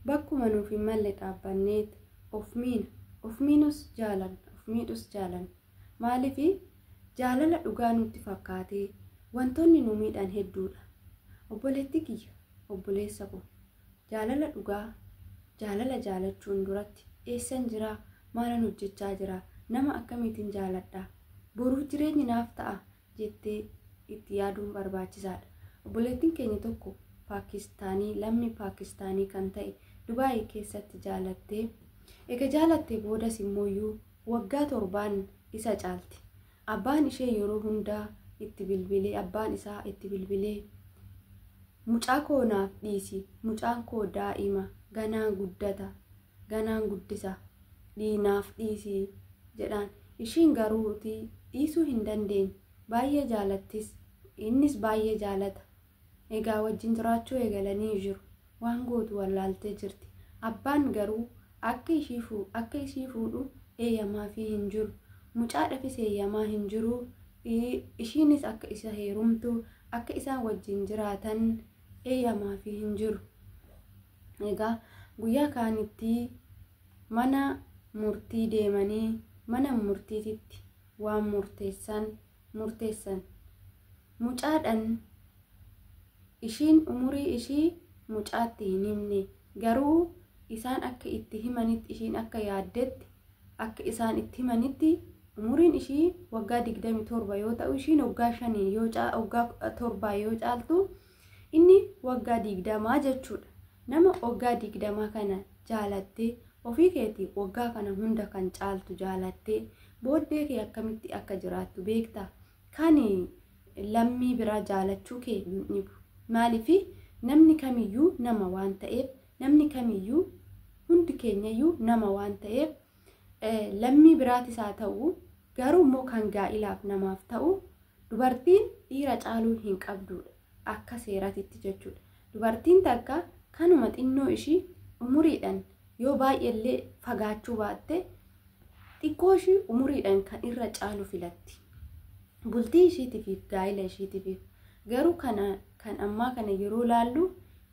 Bakkuma nuuf hin malle dhaabbanneet of miina. Of miinus jaalanna, of miidhus jaalanna. Maaliifi? Jaalala dhugaa nutti fakkaatee wantoonni nu miidhan hedduudha. Obboleettii kiyya, obboleessa koo, jaalala dhugaa, jaalala jaalachuun duratti eessan jiraa? Maalan hojjechaa jiraa? Nama akkamiitin jaaladhaa? Boruuf jireenyi naaf ta'aa? jettee itti yaaduun barbaachisaadha. Obboleettiin keenya tokko Paakistaanii lammii Paakistaanii kan ta'e Dubaay keessatti jaalattee ega jaalattee boodas immooyyuu waggaa torbaan isa caalti. Abbaan ishee yeroo hundaa itti bilbilee abbaan isaa itti bilbilee mucaa koo naaf dhiisi mucaan koo daa'ima ganaa guddata ganaan guddisa dhii naaf dhiisii jedhaan ishiin garuu utii dhiisuu hin dandeenye baay'ee jaalattis innis baay'ee jaalata egaa wajjin jiraachuu eegalanii jiru waan gootu wallaaltee jirti abbaan garuu akka ishii fuu akka ishii fuudhu eeyyamaafii hin jiru mucaadhafis eeyyamaa hin jiru i- ishiinis akka isa heerumtu akka isaan wajjin jiraatan eeyyamaafii hin jiru Egaa guyyaa kaanitti mana murtii deemanii mana murtiititti waan murteessan murteessan. Mucaadhan ishiin umurii ishii mucaatti hin himne garuu isaan akka itti himanitti ishiin akka yaaddetti akka isaan itti himanitti umuriin ishii waggaa 27 yoo ta'u ishiin waggaa 5 yoo waggaa 7 yoo caaltu Inni waggaa digdamaa jechuudha. Nama waggaa digdamaa kana jaalattee ofii keeti waggaa kana hunda kan caaltu jaalattee booddee kee akkamitti akka jiraattu beektaa? Kan lammii biraa jaalachuu kee hin dhibu. Maaliif namni kamiyyuu nama waan ta'eef namni kamiyyuu hundi keenyayyuu nama waan ta'eef lammii biraatis haa ta'u garuu immoo kan gaa'ilaaf namaaf ta'u dubartiin dhiira caaluu hin qabduudha akka seeratitti jechuudha. Dubartiin takka kanuma xinnoo ishii umuriidhaan yoo baay'eellee fagaachuu baatte xiqqoo ishii umuriidhaan kan irra caalu filatti. Bultii ishiitiif gaa'ila ishiitiif garuu kana kan ammaa kana yeroo laallu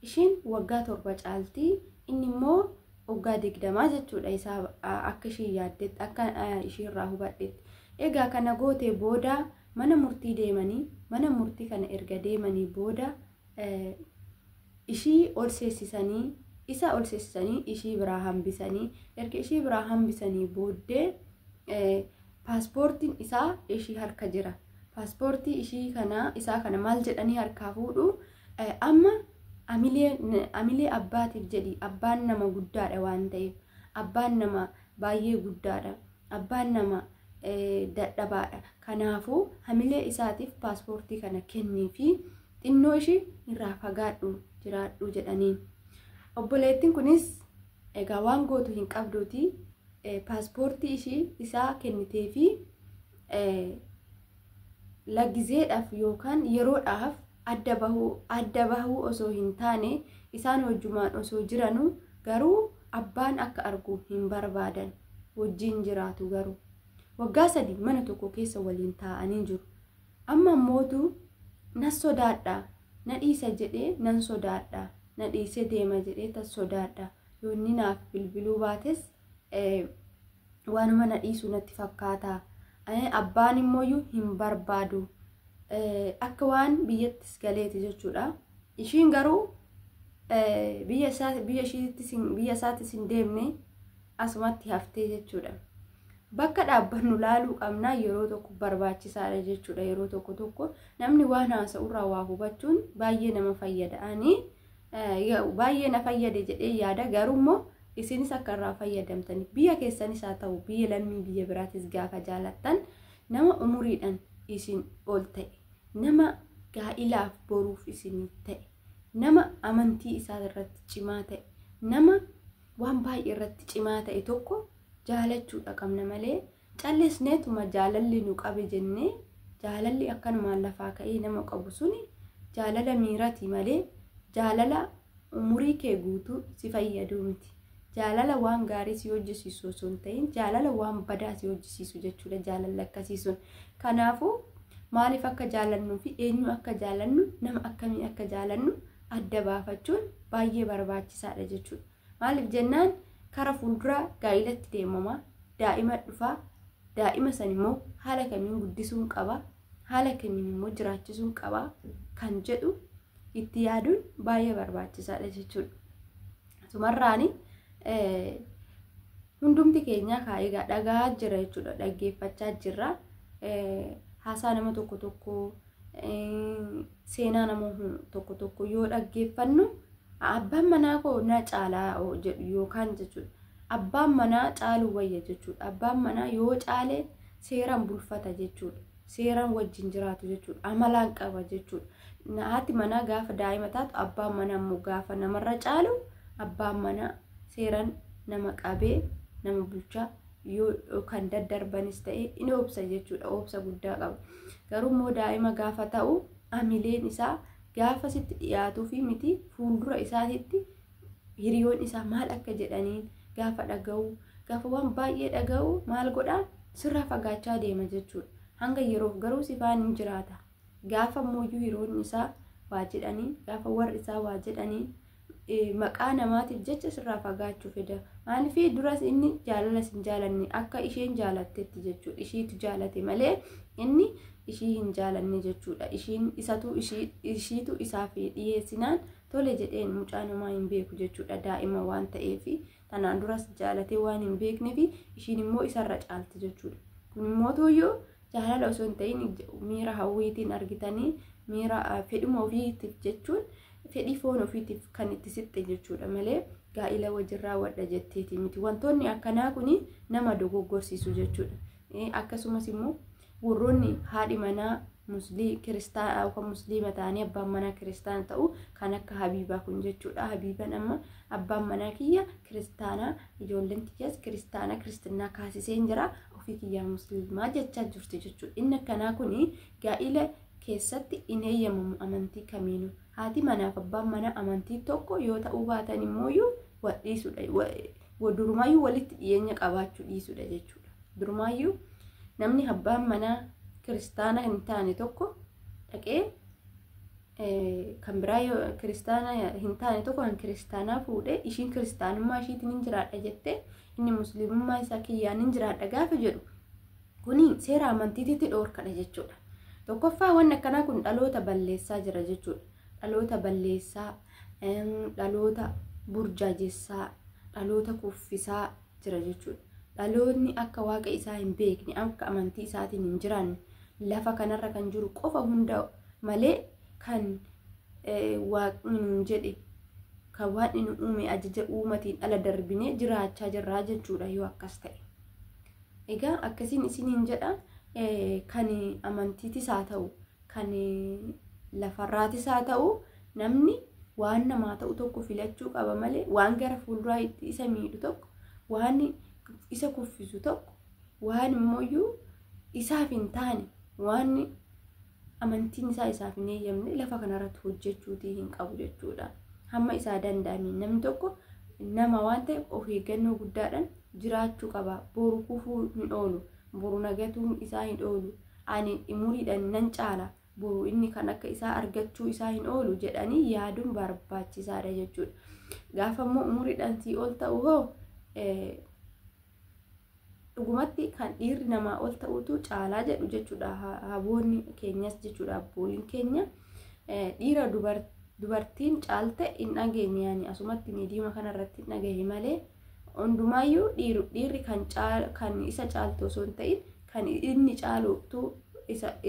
Isheen waggaa torba caalti inni immoo waggaa digdamaa jechuudha isaa akka isheen yaaddetti akka ishee irraa hubadhetti. Egaa kana gootee booda mana murtii deemanii mana murtii kana erga deemanii booda ishii ol seessisanii isa ol seessisanii ishii biraa hambisanii erga ishii biraa hambisanii booddee paaspoortiin isaa ishii harka jira. Paaspoortii ishii kana isaa kana maal jedhanii harkaa fuudhu Amma amilee abbaatiif jedhi abbaan nama guddaadha waan ta'eef abbaan nama baay'ee guddaadha abbaan nama dadhabaadha kanaafuu hamilee isaatiif paaspoortii kana kennii fi xinnoo ishii irraa fagaadhu jiraadhu jedhanii obboleettiin kunis egaa waan gootu hin qabduuti paaspoortii ishii isaa kennitee fi lagizeedhaaf yookaan yeroodhaaf adda bahuu adda bahuu osoo hin taane isaan wajjumaan osoo jiranu garuu abbaan akka argu hin barbaadan wajjiin jiraatu garuu waggaa sadii mana tokko keessa waliin taa'anii jiru amma mootu na sodaadha na dhiisa jedhee nan sodaadha na dhiisee deema jedhee tan sodaadha yoonni naaf bilbiluu baates waanuma na dhiisu natti fakkaata abbaan immooyyuu hin barbaadu akka waan biyyattis galeeti jechuudha ishiin garuu biyya isaattis hin deemne asumatti haftee jechuudha bakka dhaabbannu laaluu qabnaa yeroo tokko barbaachisaadha jechuudha yeroo tokko tokko namni waan haasa'urraa waa hubachuun baay'ee nama fayyada ani baay'ee na fayyade jedhee yaada garuu immoo isinis akka irraa fayyadamtaniif biyya keessanis haa ta'u biyya lammii biyya biraatis gaafa jaalattan nama umuriidhaan isin ol ta'e nama gaa'ilaaf boruuf isinii ta'e nama amantii isaa irratti cimaa ta'e nama waan baay'ee irratti cimaa ta'e tokko jaalachuudha qabna malee Callisneetuma jaalalli nu qabe jennee jaalalli akkanumaan lafaa ka'ee nama qabu suni jaalala miirati malee jaalala umurii kee guutuu si fayyaduu miti. Jaalala waan gaarii si hojjisiisu osoo hin ta'in jaalala waan badaa si hojjisiisu jechuudha jaalalli akkasii sun. Kanaafuu maaliif akka jaalannuu fi eenyu akka jaalannu nama akkamii akka jaalannu adda baafachuun baay'ee barbaachisaadha jechuudha. Maaliif jennaan kara fuulduraa gaa'ilatti deemama, daa'ima dhufa, daa'ima san immoo haala kamiin guddisuun qaba, haala kamiin immoo jiraachisuun qaba kan jedhu itti yaaduun baay'ee barbaachisaadha jechuudha. Sumarraani hundumti keenyaa kaa egaa dhagaa jira jechuudha dhaggeeffachaa jirra. Haasaa nama tokko tokkoo seenaa namoota tokko tokko yoo dhaggeeffannu abbaan manaa koo na caalaa jedhu yookaan jechuudha. Abbaan manaa caaluu wayya jechuudha. Abbaan manaa yoo caale seeraan bulfata jechuudha. Seeraan wajjin jiraatu jechuudha. Amalaan qaba jechuudha. Haati manaa gaafa daa'ima taatu abbaan manaa immoo gaafa namarra caalu abbaan manaa seeraan nama qabee nama bulchaa yoo kan daddarbanis ta'e in obsa jechuudha obsa guddaa qaba garuu immoo daa'ima gaafa ta'u amileen isaa gaafa sitti dhiyaatuu fi miti fuuldura isaatitti hiriyoon isaa maal akka jedhaniin gaafa dhaga'u gaafa waan baay'ee dhaga'u maal godhaa sirraa fagaachaa deema jechuudha hanga yeroof garuu sifaan hin jiraata gaafa immoo hiriyoonni isaa waa jedhaniin gaafa warri isaa waa jedhaniin maqaa namaatiif jecha sirraa fagaachuu feda. Maaliif duras inni jaalala sin jaalanne akka isheen jaalattetti jechuudha. Ishiitu jaalate malee inni ishii hin jaalanne jechuudha. Ishiin isatu ishiitu isaaf dhiyeessinaan tole jedheen mucaa namaa hin beeku jechuudha. Daa'ima waan ta'eef Tanaan duras jaalatee waan hin beekneef ishiin immoo isarra caalti jechuudha. Kun immoo tooyyoo jaalala osoo hin ta'in miira hawwiitiin argitanii miira fedhuma ofiitiif jechuun fedhii foon ofiitiif kan itti siqxe jechuudha malee gaa'ila wajjin raawwadha jetteeti miti. Wantoonni akkanaa kun nama dogoggorsiisu jechuudha. Akkasumas immoo Warroonni haadhi manaa muslii kiristaana yookaan musliima ta'anii abbaan manaa kiristaana ta'u kan akka habiibaa kun jechuudha. Habiiban amma abbaan manaa kiyya kiristaanaa ijoolleen tiyyaas kiristaanaa kiristinnaa kaasiseen jira ofii kiyyaa musliimaa jechaa jirti jechuudha. Inni akkanaa kun gaa'ila keessatti hin eeyyamamu amantii kamiinuu. Haati manaaf abbaan manaa amantii tokko yoo ta'uu baatan immoo wal dhiisudha. Durumaayyuu walitti dhiyeenya qabaachuu dhiisudha jechuudha. Durumaayyuu namni abbaan manaa kiristaana hin taane tokko dhaqee kan biraa yoo kiristaana hin taane tokko kan kiristaanaa fuudhee ishiin kiristaanummaa ishiitiin hin jiraadha jettee inni musliimummaa isaa kiyyaan hin jiraadha gaafa jedhu kuni seera amantiititti dhoorkadha jechuudha. Tokkoffaa wanni akkanaa kun dhaloota balleessaa jira jechuudha. Dhaloota balleessaa dhaloota burjaajessaa dhaloota kuffisaa jira jechuudha dhaloonni akka waaqa isaa hin beekne akka amantii isaatiin hin jiraanne lafa kanarra kan jiru qofa hunda malee kan waaqni nuun jedhe kan waaqni nu uume ajaja uumatiin ala darbinee jiraachaa jirraa jechuudha yoo akkas ta'e. Egaa akkasiin isiniin jedha kan amantiitis haa ta'u kan lafarraatis haa ta'u namni waan namaa ta'u tokko filachuu qaba malee waan gara fuulduraa itti isa miidhu tokko waan isa kuffisu tokko waan immoo isaaf hin taane waan amantiin isaa isaaf hin eeyyamne lafa kanarratti hojjechuutii hin qabu jechuudha. Hamma isaa danda'ameen namni tokko nama waan ta'eef of eeggannoo guddaadhaan jiraachuu qaba. Boru kufuu hin oolu. Boru nagatuun isaa hin oolu. Ani umuriidhaan nan caala, boru inni kan akka isaa argachuu isaa hin oolu jedhanii yaaduun barbaachisaadha jechuudha. Gaafa immoo umuriidhaan sii ol ta'u hoo dhugumatti kan dhiirri namaa ol ta'utu caalaa jedhu jechuudha haboonni keenyas jechuudha abbooliin keenya dhiira dubartiin caalte hin dhageenye ani asumatti miidiyaa kanarratti hin dhagahe malee. Hundumaayyuu dhiirri kan isa caaltu osoo hin ta'in kan inni caalutu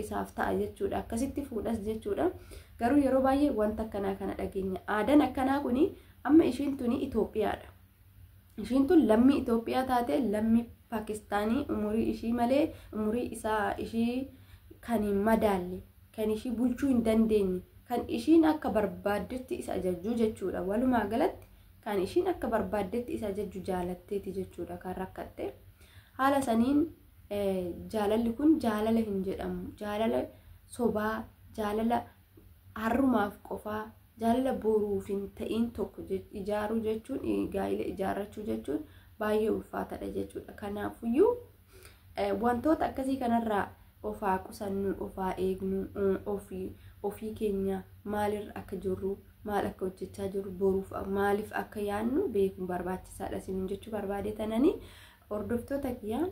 isaaf ta'a jechuudha. Akkasitti fuudhas jechuudha. Garuu yeroo baay'ee wanta akkanaa kana dhageenya. Aadaan akkanaa kun amma ishiin tuni Itoophiyaadha. Ishiin tun lammii Itoophiyaa taate lammii Paakistaanii umurii ishii malee umurii isaa ishii kan hin madaalle kan ishii bulchuu hin dandeenye kan ishiin akka barbaaddetti isa ajajjuu jechuudha. Walumaa galatti Kan ishiin akka barbaaddetti isa ajajju jaalatteeti jechuudha kan rakkatte. Haala saniin jaalalli kun jaalala hin jedhamu. Jaalala sobaa, jaalala harrumaaf qofaa, jaalala boruuf hin ta'iin tokko ijaaruu jechuun gaa'ila ijaarrachuu jechuun baay'ee ulfaataadha jechuudha. Kanaafuyyuu Wantoota akkasii kanarraa of haa qusannu, of haa eegnu, ofii ofii keenya maalirra akka jirru, maal akka hojjechaa jirru, boruuf maaliif akka yaannu beekuun barbaachisaadha isiniin jechuu barbaade tananii hordoftoota kiyyaa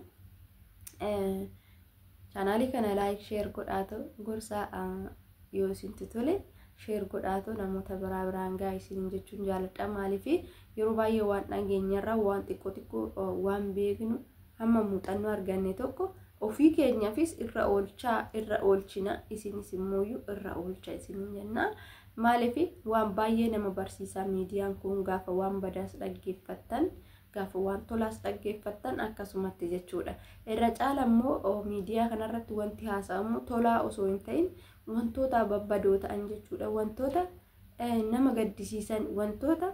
chaanaalii kana laayik sheer godhaatu gorsaa yoo isintu tole sheer godhaatu namoota biraa biraan gaa isiniin jechuun jaaladha maaliif yeroo baay'ee waan dhageenyarra waan xiqqoo xiqqoo waan beeknu hamma muuxannoo arganne tokko ofii keenyaafis irra oolchaa irra oolchina isinis immoo irra oolcha isin jenna maaliif waan baay'ee nama barsiisaa miidiyaan kun gaafa waan badaas dhaggeeffattan gaafa waan tolaas dhaggeeffattan akkasumatti jechuudha irra caala immoo miidiyaa kanarratti wanti haasa'amu tolaa osoo hin ta'in wantoota babbadoo ta'an jechuudha wantoota nama gaddisiisan wantoota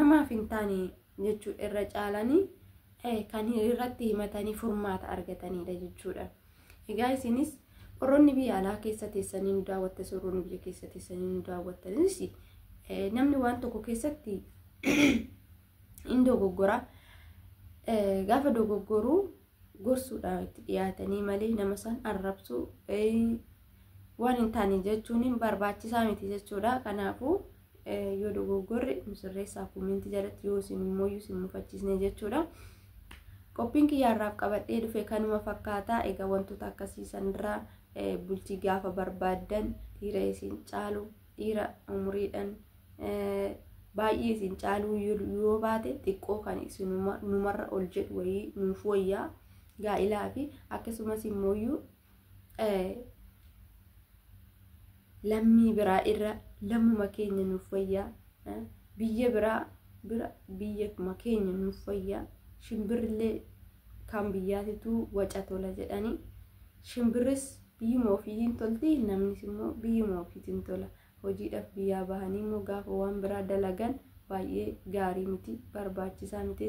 namaaf hin taane jechuudha irra caalanii kan irratti himatanii furmaata argatanidha jechuudha. Egaa isinis warroonni biyya alaa keessa teessanii nu daawwattanis warroonni biyya keessa teessanii nu daawwattanis namni waan tokko keessatti hin dogoggora. Gaafa dogoggoruu gorsuudhaaf itti dhiyaatanii malee nama san arrabsuu waan hin taane jechuun barbaachisaa miti jechuudha. Kanaafuu yoo dogoggorre nu sirreessaa koomenti jalatti yoo isin immoo isin mufachiisne jechuudha. Qophiin kiyyaarraaf qabadhee dhufe kanuma fakkaata. Egaa wantoota akkasii sanirraa bultii gaafa barbaaddan dhiira isin caalu dhiira umuriidhaan baay'ee isin caaluu yoo baate xiqqoo kan isin numarra ol jedhu wayii nuuf wayyaa gaa'ilaa fi akkasumas immoo lammii biraa irra lammuma keenya nuuf wayyaa biyya biraa bira biyyuma keenya nuuf wayyaa shimbirrillee kan biyyaatituu waca tola jedhanii shimbirris Biyyuma ofii hin tolti, namnis immoo biyyuma ofiitiin tola. Hojiidhaaf biyyaa bahanii immoo gaafa waan biraa dalagan baay'ee gaarii miti, barbaachisaa miti.